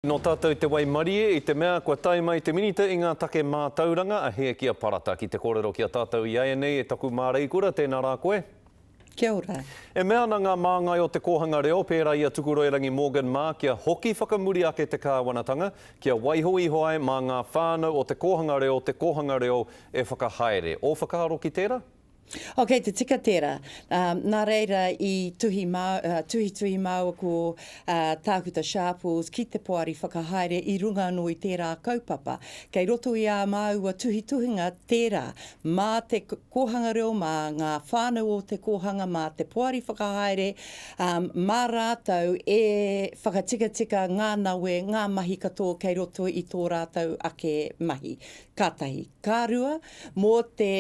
Nō tātou te waimarie i te mea kua tae mai te Minita i ngā take mātauranga a Hēkia Parata ki te kōrero ki a tātou i ēnei e taku māreikura tēnā rā koe. Kia ora. E mea ana ngā māngai o te kōhanga reo pērā i a Tukuroirangi Morgan mā kia hoki whakamuri ake te kāwanatanga kia waiho iho ai mā ngā whānau o te kōhanga reo te kōhanga reo e whakahaere. Ō whakaaro ki tērā? Oh, kei te tika tērā. Ā, nā reira i tuhi mā, ā, tuhituhi māua ko, ā, Tākuta Sharples ki te poari whakahaere i runga anō i tērā kaupapa. Kei roto i ā māua tuhituhinga tērā, mā te kōhanga reo, mā ngā whānau o te kōhanga, mā te poari whakahaere, ā, mā rātou e whakatikatika ngā nawe, ngā mahi katoa kei roto i tō rātou ake mahi. Ka tahi. Ka rua, mō te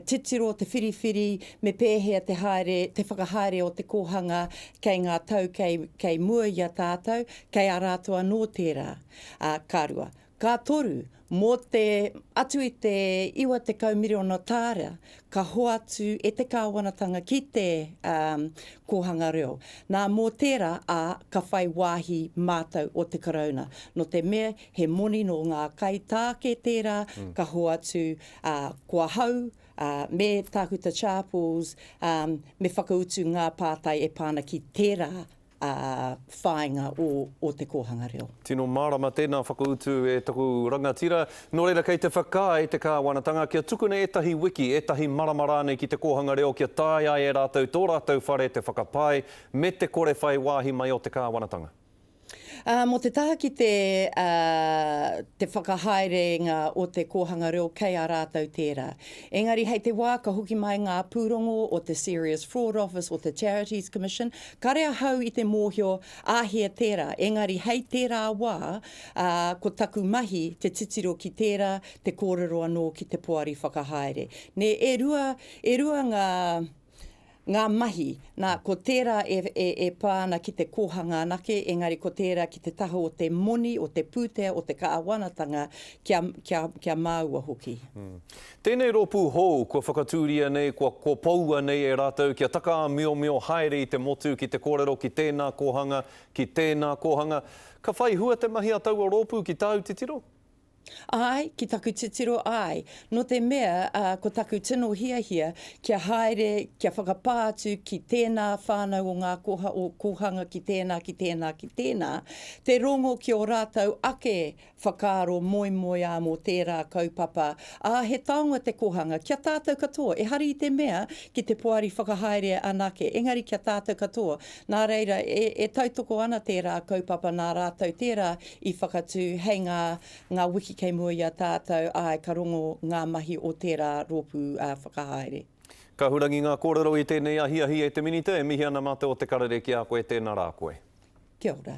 titiro o te whiriwhiri me pēhea te haere, te whakahaere o te kōhanga kei ngā tau kei, kei mua i a tātou, kei a rātou anō tērā. Ā, ka rua. Ka toru, mō te, atu i te 90 miriona tāra, ka hoatu e te Kāwanatanga ki te kōhanga reo. Nā, mō tērā, ā, ka whai wāhi mātou o te Karauna. Nō te mea, He moni nō ngā kaitāke tērā ka hoatu, ā, ko ahau, ā, me Tākuta Sharples, ā, me whakautu ngā pātai e pā ana ki tērā, ā, whāinga o, o te kōhanga reo. Tino mārama tēnā whakautu e taku rangatira. Nō reira, kei te whakaae te Kāwanatanga kia tukuna ētahi wiki, ētahi marama rānei ki te kōhanga reo kia taea e rātou tō rātou whare te whakapae me te kore whai wāhi mai o te Kāwanatanga. Ā, mō te taha ki te, ā, te whakahaerēnga o te kōhanga reo kei a rātou tērā. Engari hei te wā ka hoki mai ngā pūrongo o te Serious Fraud Office, o te Charities Commission, kare ahau i te mōhio āhea tērā, engari hei tērā wā, ā, ko taku mahi te titiro ki tērā, te kōrero anō ki te poari whakahaere. Nē, e rua, e rua ngā. ngā mahi, nā, ko tērā e, e, e pā ana ki te kōhanga anake, engari ko tērā ki te taha o te moni, o te pūtea, o te kāwanatanga, kia, kia, kia māua hoki. Mm. Tēnei rōpū hou, kua whakatūria nei, kua kopoua nei e rātou kia takaāmiomio haere i te motu ki te kōrero ki tēnā kōhanga, ki tēnā kōhanga. Ka whai hua te mahi a taua rōpū ki tāu titiro? Āe, ki taku titiro āe, nō te mea ko taku tino hiahia kia haere, kia whakapā atu ki tēnā whānau o ngā kōhanga ki tēnā, ki tēnā, ki tēnā, te rongo ki ō rātou ake whakaaro moemoeā mō tērā kaupapa, ā, he taonga te kōhanga ki a tātou katoa, ehara i te mea ki te poari whakahaere anake, engari ki a tātou katoa. Nā reira, e tautoko ana tērā kaupapa nā rātou tērā i whakatū hei ngā ngā wiki kei mua i a tātou, āe, ka rongo ngā mahi o tērā rōpū whakahaere. Ka hurangi ngā kōrero i tēnei ahiahi e te Minita, e mihi ana mā te o Te Karere ki a koe, tēnā rā koe. Kia ora.